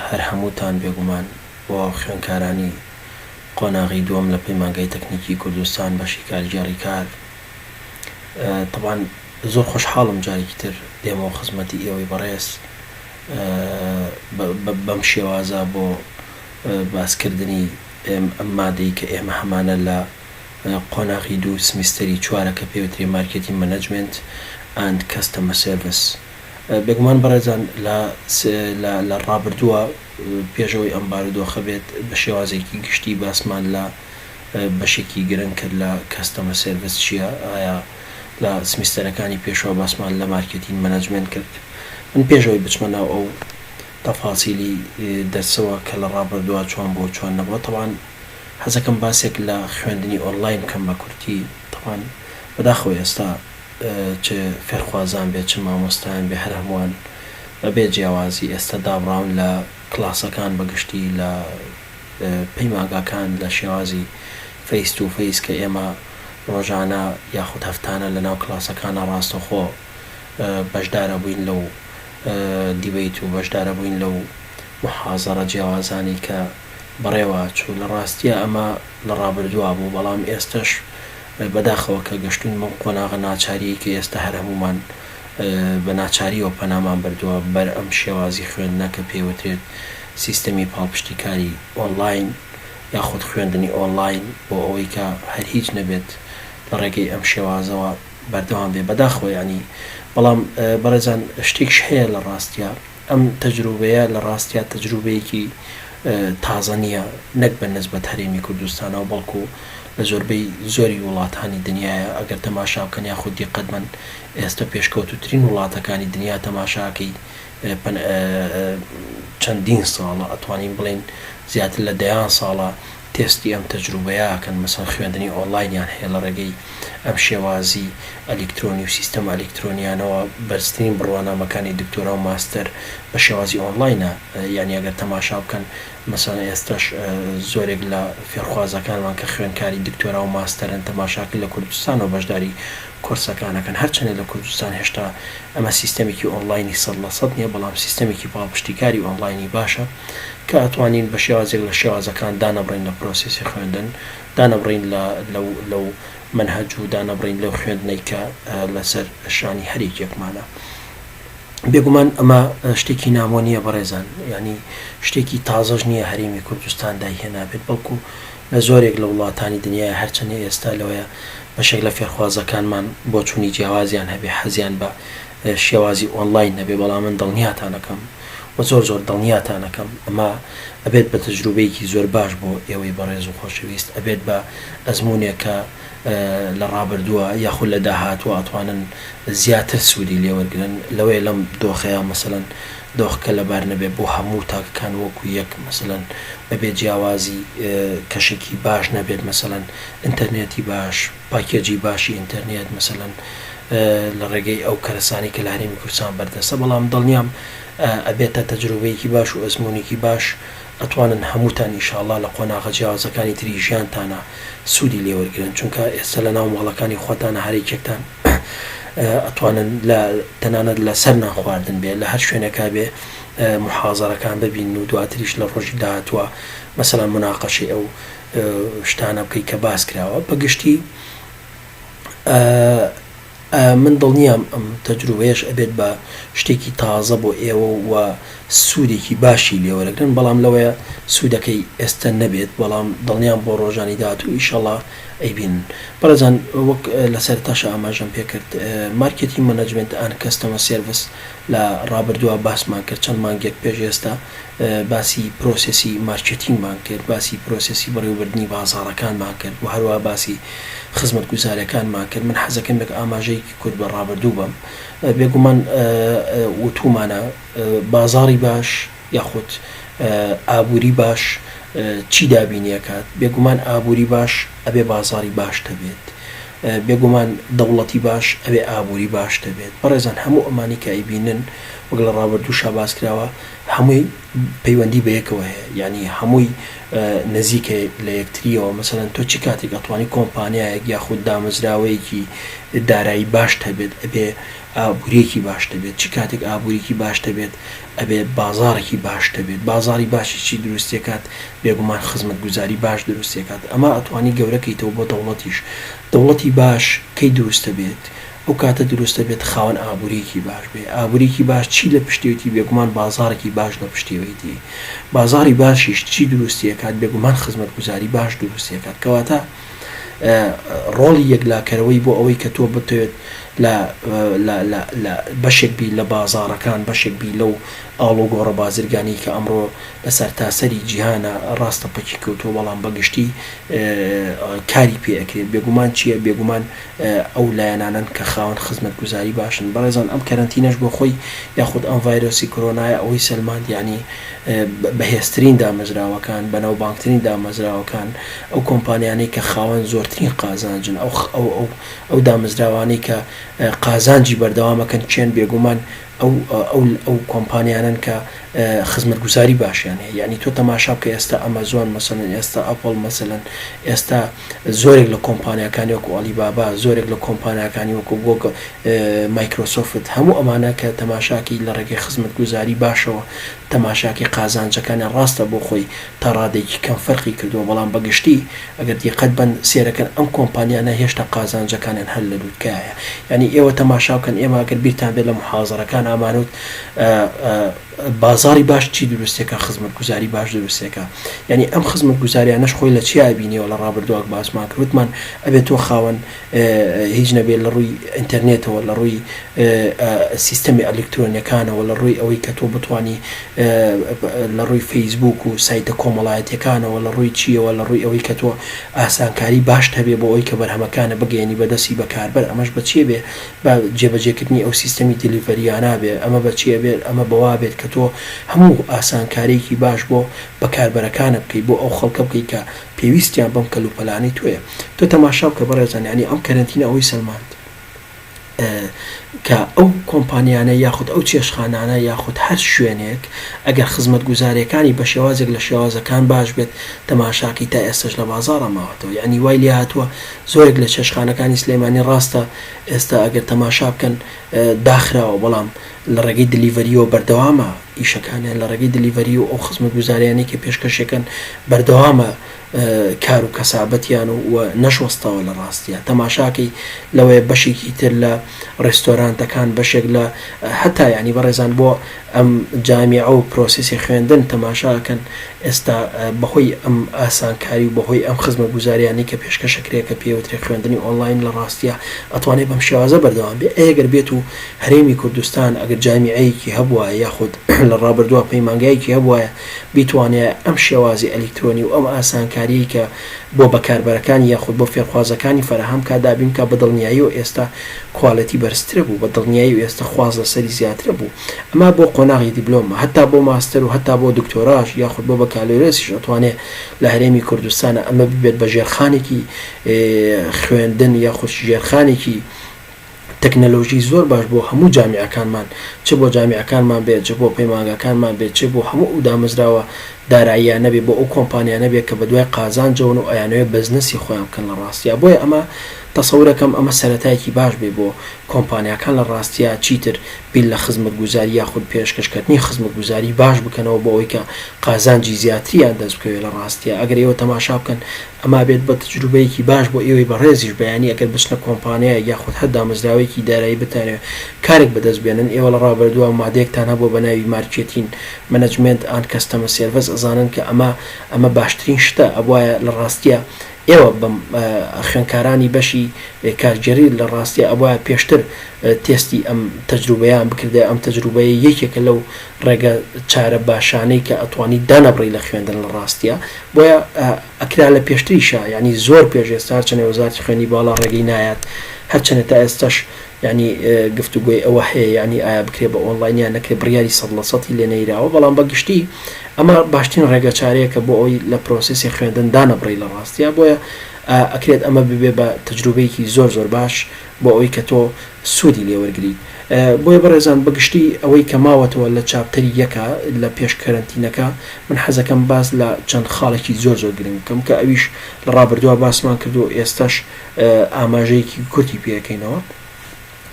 هەر هەمووتان بێگومان بۆ خوێندکارانی قۆناغی دووەم لە پەیمانگای تەکنیکی کوردستان بەشی کارگێڕی کار تەبان زۆر خۆشحاڵم جارێکی تر دێمەوە خزمەتی ئێوەی بەڕێز بەم شێوازە بۆ باسکردنی ئەم مادەی کە ئێمە هەمانە لە قۆناغی دوو سمیستەری چوارەکە پێوترێ مارکێتی مەنەجمێنت ئەند کەستەمە سێرڤس. بێگومان بەڕێزان لە ڕابردووە پێش ئەوەی ئەم بارودۆخە بێت بە شێوازێکی گشتی باسمان لە بەشێکی گرنگ کرد لە کەستەمە سێرڤس چییە ئایا لە سمیستەرەکانی پێشوە باسمان لە مارکێتین مەناجمێنت کرد من پێش ئەوەی بچمە ناو ئەو تەفاسیلی دەرسەوە کە لە ڕابردووە چۆن بووە چۆن نەبووە تەبان حەزەکەم باسێک لە خوێندنی ئۆنڵاین بکەم بە کورتی تەبان بەداخەوە ئێستا چ فێرخوازان بێت چ مامۆستایان بێت هەر هەمووان بەبێ جیاوازی ئێستا دابڕاون لە کلاسەکان بەگشتی لە پەیمانگاکان لە شێوازی فەیس توو فەیس کە ئێمە ڕۆژانە یاخود هەفتانە لەناو کلاسەکانا ڕاستەخۆ بەشدارەبووین لەو دیبەیت و بەشدارەبووین لەو موحازەڕە جیاوازانەی کە بەڕێوا چوو لە ڕاستیا ئەمە لە ڕابردوا بوو بەڵام ئێستەش بەداخەوە کە گەشتووین بەم قۆناغە ناچارییەی کە ئێستا هەر هەموومان بە ناچارییەوە پەنامان بردووە بەر ئەم شێوازی خوێندنە کە پێی وترێت سیستەمی پاڵپشتیکاری ئۆنلاین یاخود خوێندنی ئۆنلاین بۆ ئەوەی کە هەر هیچ نەبێت لە ڕێگەی ئەم شێوازەوە بەردەوام بێ بەداخەوە یانی بەڵام بەڕێزان شتێکش هەیە لە ڕاستیا ئەم تەجروبەیە لە ڕاستیا تەجروبەیەکی تازە نییە، نەک بە نسبەت هەرێمی کوردستانەوە، بەڵکو لە زۆربەی زۆری وڵاتانی دنیایە، ئەگەر تەماشا بکەن یاخود دیقەت بەن ئێستە پێشکەوتووترین وڵاتەکانی دنیا تەماشاکەی چەندین ساڵە، ئەتوانین بڵێین زیاتر لە دەیان ساڵە، تێستی ئەم تەجروبەیە ئەکەن مەسەن خوێندنی ئۆنڵاینیان هەیە لە ڕێگەی ئەم شێوازی ئەلیکترۆنی و سیستەمە ئەلیکترۆنیانەوە بەرزترین بڕوانامەکانی دکتۆرا و ماستەر بە شێوازی ئۆنڵاینە یانی ئەگەر تەماشا بکەن مەسەن ئێستەش زۆرێک لە فێرخوازەکانمان کە خوێندکاری دکتۆرا و ماستەرن تەماشاکە لە کوردستانەوە بەشداری کۆرسەکان ئەکەن هەرچەندە لە کوردستان هێشتا ئەمە سیستەمێکی ئۆنڵاینی سەد لە سەد نیە بەڵام سیستەمێکی پاڵپشتیکاری ئۆنڵاینی باشە. کە ئەتوانین بە شێوازێک لە شێوازەکان دانەبڕین لە پرۆسێسی خوێندن، دانەبڕین لە لەو لەو مەنهەج و دانەبڕین لەو خوێندنەی کە لەسەر شانی هەر یەکێکمانە. بێگومان ئەمە شتێکی نامۆ نییە بەڕێزان، یانی شتێکی تازەش نییە هەرێمی کوردستان دایهێنابێت، بەڵکو لە زۆرێک لە وڵاتانی دنیایە، هەرچەندە ئێستا لەوەیە بەشێک لە فێرخوازەکانمان بۆچوونی جیاوازیان هەبێ، حەزیان بە شێوازی ئۆنڵاین نەبێ، بەڵام من دڵنیاتان ئەکەم، و زۆر زۆر دڵنیاتان ئەکەم ئەمە ئەبێت بە تەجروبەیەکی زۆر باش بۆ ئێوەی بەڕێز و خۆشەویست ئەبێت بە ئەزمونێک کە لە ڕابردووە یاخود لە داهاتوە ئەتوانن زیاتر سوودی لێوەرگرن لەوەیە لەم دۆخەیە مەسەلەن دۆخکە لەبار نەبێت بۆ هەموو تاکەکان وەکو یەک مەسەلەن بەبێ جیاوازی کەشێکی باش نەبێت مەسەلەن ئینتەرنێتی باش پاکێجی باشی ئینتەرنێت مەسەلەن لە ڕێگەی ئەو کەرەسانەی کە لە هەرێمی کوردستان بەردەستە، بەڵام دڵنیام ئەبێتە تەجروبەیەکی باش و ئەزموونێکی باش، ئەتوانن هەمووتان ئینشاڵڵا لە قۆناغە جیاوازەکانی تری ژیانتانا سوودی لێ وەرگرن، چونکە ئێستە لەناو ماڵەکانی خۆتانا هەریەکێکتان ئەتوانن لە تەنانەت لە سەر نانخواردن بێ لە هەر شوێنێکا بێ موحازەرەکان ببینن و دواتریش لە ڕۆژی داهاتووا مەسەلەن موناقەشەی ئەو شتانە بکەی کە باس کراوە بە گشتی ئە من دڵنیام ئەم تەجروبەیەش ئەبێت بە شتێکی تازە بۆ ئێوە و سوودێکی باشی لێوەرەگرن بەڵام لەوەیە سوودەکەی ئێستا نەبێت بەڵام دڵنیام بۆ ڕۆژانی داهاتوو ئیشەڵا ئەیبین بەڕێزان وەک لە سەرتاشە ئاماژەم پێکرد مارکێتی مەنەجمنت ئەن کەستەمە سێرڤس لە ڕابردووا باسمان کرد چەند مانگێک پێش ئێستا باسی پرۆسێسی مارکێتینگمان کرد باسی پرۆسێسی بەڕێوەبردنی بازاڕەکانمان کرد و هەروەها باسی خزمەتگوزاریەکانمان کرد من حەزەکەم یەک ئاماژەیەکی کورت بە ڕابردوو بەم بێگومان وتومانە بازاڕی باش یاخود ئابووری باش چی دابینی ئەکات بێگومان ئابووری باش ئەبێ بازاڕی باش هەبێت بێگومان دەوڵەتی باش ئەبێ ئابوری باش دەبێت بەڕێزان هەموو ئەمانەی کە ئەیبینن وەک لە ڕابردووشا باس کراوە هەمووی پەیوەندی بە یەکەوە هەیە یانی هەمووی نزیکە لە یەکتریەوە مەسەلەن تۆ چ کاتێک ئەتوانی کۆمپانیایەک یاخود دامەزراوەیەکی دارایی باشت هەبێت ئەبێ ئابوریەکی باشت هەبێت چ کاتێک ئابوریی باشت هەبێت ئەبێ بازاڕێکی باش دەبێت بازاڕی باشی چی دروستیەکات بێگومان خزمەت گوزاری باش دروستیەکات ئەما ئەتوانی گەورە کەیتەوە بۆ دەوڵەتیش دەوڵەتی باش کەی دروستە بێت ئەو کاتە دروستە بێت خاوەن ئابوریەکی باش بێ ئابوریکی باش چی لە پشتێتی بێگومان بازاڕێکی باش لە پشتێوەیتی بازاڕی باشیش چی دروستیەکات بێگومان خزمەت گوزاری باش دروستیەکات کەواتە ڕۆڵی یەکلاکەرەوەی بۆ ئەوەی کە تۆ بتەوێت لە لە بەشێک بی لە بازاڕەکان بەشێک بی لەو ئاڵۆگۆڕە بازرگانی کە ئەمڕۆ لە سەرتاسەری جیهانە ڕاستە پەکی کەوتووە بەڵام بەگشتی کاری پێ ئەکرێت بێگومان چیە بێگومان ئەو لایەنانەن کە خاوەن خزمەتگوزاری باشن. بەڕێزان ئەم کەرەنتینەش بۆ خۆی یاخود ئەم ڤایرۆسی کۆرۆنایە ئەوەی سەلماند یانی بەهێزترین دامەزراوەکان، بەناوبانگترین دامەزراوەکان، ئەو کۆمپانیانەی کە خاوەن زۆرترین قازانجن، ئەو دامەزراوانەی کە قازانجی بەردەوام ئەکەن کێن؟ بێگومان ئەو کۆمپانیانەن کە خزمەتگوزاری باشیان هەیە. یانی تۆ تەماشا بکە ئێستا ئەمەزۆن مەسەلەن، ئێستا ئەپڵ مەسەلەن، ئێستا. زۆرێک لە کۆمپانیاکانی وەکو ئالی بابا زۆرێک لە کۆمپانیاکانی وەکو گۆگڵ مایکرۆسۆفت هەموو ئەمانە کە تەماشاکی لە ڕێگەی خزمەت گوزاری باشەوە تەماشاکی قازانجەکانە ڕاستە بۆ خۆی تا ڕادەیەکی کەم فەرقی کردووە بەڵام بە گشتی ئەگەر دیقەت بەن سێرەکەن ئەم کۆمپانیانە هێشتا قازانجەکانیان هەر لە لوتکایە یانی ئێوە تەماشاکەن ئێمە ئەگەر بیرتان بێت لە محازەرەکان ئامانوت بازاری باش چی دروستەکە خزمەت گوزاری باش دروستەکە یعنی ئەم خزمەت گوزاریانەش خۆی لە چیا بینیەوە لە ڕابردوواک باسمان کروتمان ئەبێت تۆ خاوەن هیچ نەبێت لە ڕووی ئینتەرنێتەوە لە ڕووی سیستەمی ئەلکترۆنیەکانەوە لە ڕووی ئەوەی کە تۆ بتانی لە ڕووی فەیسبوک و سایتە کۆمەڵایەتەکانەوە لە ڕووی چیەوە لە ڕووی ئەوەی کە تۆ ئاسانکاری باش هەبێ بۆ ئەوی کە بەرهەمەکانە بگەێنی بەدەسی بەکاربەر ئەمەش بەچێ بێ بە جێبەجێکردنی ئەو سیستەمی دیلیڤەریانە بێ ئەمە بە چی ئەبێت ئەمە بەوە ئەبێت کە تۆ هەموو ئاسانکاریەکی باش بۆ بەکاربەرەکانت بکەیت بۆ ئەو خەڵکە بکەیت کە پێویستیان بەم کەلوپەلانەی تۆیە تۆ تەماشا بکە بەڕێزان یانی ئەم کەرەنتینە ئەوەی سەلماند کە ئەو کۆمپانیانە یاخود ئەو چێشخانانە یاخود هەر شوێنێک ئەگەر خزمەتگوزاریەکانی بە شێوازێک لە شێوازەکان باش بێت تەماشاکەی تا ئێستەش لە بازاڕا ماوەتەوە یانی وای لێهاتووە زۆرێک لە چێشخانەکانی سلێمانی ڕاستە ئێستا ئەگەر تەماشا بکەن داخراوە بەڵام لە ڕێگەی دلیڤەریەوە بەردەوامە ئیشەکانیان لە ڕێگەی دلیڤەری و ئەو خزمەتگوزاریانەی کە پێشکەشیەکەن بەردەوامە کار و کەسابەتیان و و نەشۆستەوە لە ڕاستیە تەماشاکەی لەوەیە بەشێکی تر لە ڕێستۆرانتەکان بەشێک لە هەتا یانی بەڕێزان بۆ ئەم جامیعە و پرۆسێسی خوێندن تەماشا ئەکەن ئێستا بەهۆی ئەم ئاسانکاری و بەهۆی ئەم خزمەگوزاریانەی کە پێشکەش ئەکرێ کە پێی ئەوترێ خوێندنی ئۆنڵاین لە ڕاستیا ئەتوانێ بەم شێوازە بەردەوام بێ ئەی ئەگەر بێت و هەرێمی کوردستان ئەگەر جامیعەیەکی هەبوایە یاخود لە ڕابردووا پەیمانگایەکی هەبوایە بیتوانیایە ئەم شێوازی ئەلیکترۆنی و ئەم ئاسانکاریەی کە بۆ بەکاربەرەکان یاخود بۆ فێرخوازەکانی فەراهەم بکات دابین بکات بە دڵنیاییەوە ئێستە کوالیتی بەرزترە بوو بە دڵنیایی ئێستە خواست لەسەری زیاترە بوو ئەمە بۆ قۆناغی دیبلۆمە هەتا بۆ ماستەر و هەتا بۆ دکتۆراش یاخود بۆ بەکالۆرێسیش ئەتوانێ لە هەرێمی کوردستانا ئەمە ببێت بە ژێرخانێکی خوێندن یاخود ژێرخانێکی تەکنەلۆژی زۆر باش بۆ هەموو جامیعەکانمان چ بۆ جامیعەکانمان بێت چ بۆ پەیمانگاکانمان بێت چ بۆ هەموو ئەو دامەزراوە داراییانە بێت بۆ ئەو کۆمپانیانە بێت کە بەدوای قازانجەوەن و ئەیانەوێت بەزنەسی خۆیان بکەن لە ڕاستیا بۆیە ئەمە تەسەورەکەم ئەمە سەرەتایەکی باش بێت بۆ کۆمپانیاکان لە ڕاستیا چیتر بیر لە خزمەتگوزاری یاخود پێشکەش کەتنی خزمەتگوزاری باش بکەنەوە بۆ ئەوەی کە قازانجی زیاتریان دەست بکەوێت لە ڕاستیا ئەگەر ئێوە تەماشا بکەن ئەما بێت بە تجروبەیەکی باش بۆ ئێوەی بەڕێزیش بەیانی ئەگەر بچنە کۆمپانیایەک یاخود هەر دامەزراوەیەکی دارایی بتانەوێت کارێک بەدەست بێنن ئێوە لە ڕابردووە مادەیەکتان هەبووە بە ناوی مارکێتین مەنەجمێنت ئاند کەستەمە سێرڤەس ئەزانن کە ئەمە ئەمە باشترین شتە ئەبوایە لە ڕاستیە ئێوە بەم خوێنکارانی بەشی کارگێری لە ڕاستیە ئەبوایە پێشتر تێستی ئەم تجروبەیان بکردایە ئەم تجروبەیە یەکێکە لەو ڕێگە چارە باشانەی کە ئەتوانی دانەبڕی لە خوێندن لە ڕاستیا بۆیە ئەکرا لە پێشتریشە ینی زۆر پێش ئێستا هەرچەنێ وەزارتی خوێنی باڵا ڕێگەی نایات هەرچەنێ تا ئێستاش ینی گفتوگوۆی ئەوە هەیە ینی ئایا بکرێ بە ئۆنلاینیا نەکرێ بڕیاری سەد لە سەتی لێ نەیراوە بەڵام بە گشتی ئەمە باشترین ڕێگە چارەیەکە بۆ ئەوی لە پرۆسیسی خوێندن دانەبڕی لە ڕاستیا بۆیە ئەکرێت ئەمە ببێ بە تەجروبەیەکی زۆر زۆر باش بۆ ئەوی کە تۆ سوودی لێوەرگری. بۆیە بەڕێزان بە گشتی ئەوەی کە ماوەتەوە لە چاپتەری یەکە لە پێش کەرەنتینەکە، من حەزەکەم باس لە چەند خاڵێکی زۆر زۆر گرنگ بکەم کە ئەویش لە ڕابردووا باسمان کرد و ئێستەش ئاماژەیەکی کورتی پێ ئەکەینەوە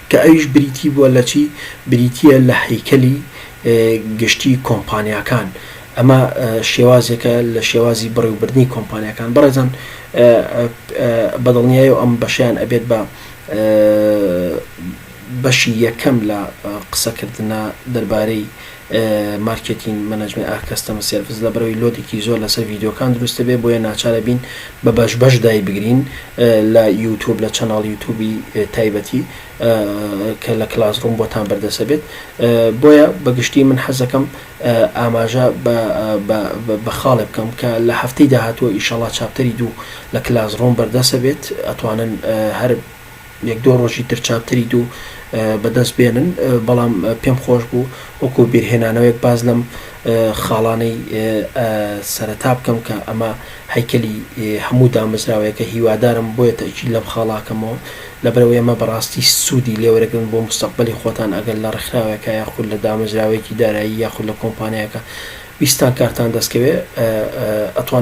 کە ئەویش بریتی بووە لە چی؟ بریتییە لە هەیکەلی گشتی کۆمپانیاکان ئەمە شێوازێکە لە شێوازی بەڕێوبردنی کۆمپانیاکان بەڕێزان بە دڵنیایەوە ئەم بەشەیان ئەبێت بە بەشی یەکەم لە قسەکردنە دەربارەی مارکێتین مەنەجمێ ئا کەستەمە سێرڤس لە بەرەوەی لۆدێکی زۆر لەسەر ڤیددیوکان دروستە بێ بۆیە ناچارە بین بە بەش بەش دای بگرین لە یوتوب لە چەناڵ یوتوبی تایبەتی کە لە کلاس ڕووم بۆتان بەردەسە بێت بۆیە بەگشتی من حەزەکەم ئاماژە بە خاڵێ بکەم کە لە هەفتەی داهاتووە ئیشەڵا چاپتەری دوو لە کلاس ڕۆم بەردەست ئەبێت ئەتوانن هەر یەک دۆ ڕۆژی تر چاپتەری دوو بەدەست بێنن بەڵام پێم خۆش بوو وەکو بیرهێنانەوەیەک باز لەم خاڵانەی سەرەتا بکەم کە ئەمە هەیکەلی هەموو دامەزراوەیەکە هیوادارم بۆیە تەئکید لەم خاڵاکەمەوە لەبەرئەوەی ئەمە بەڕاستی سوودی لێوەرەگرن بۆ موستەقبەلی خۆتان ئەگەر لە ڕێکخراوێکا یاخود لە دامەزراوەیەکی دارایی یاخود لە کۆمپانیایەکا ویستتان کارتان دەستکەوێ ئەتوانن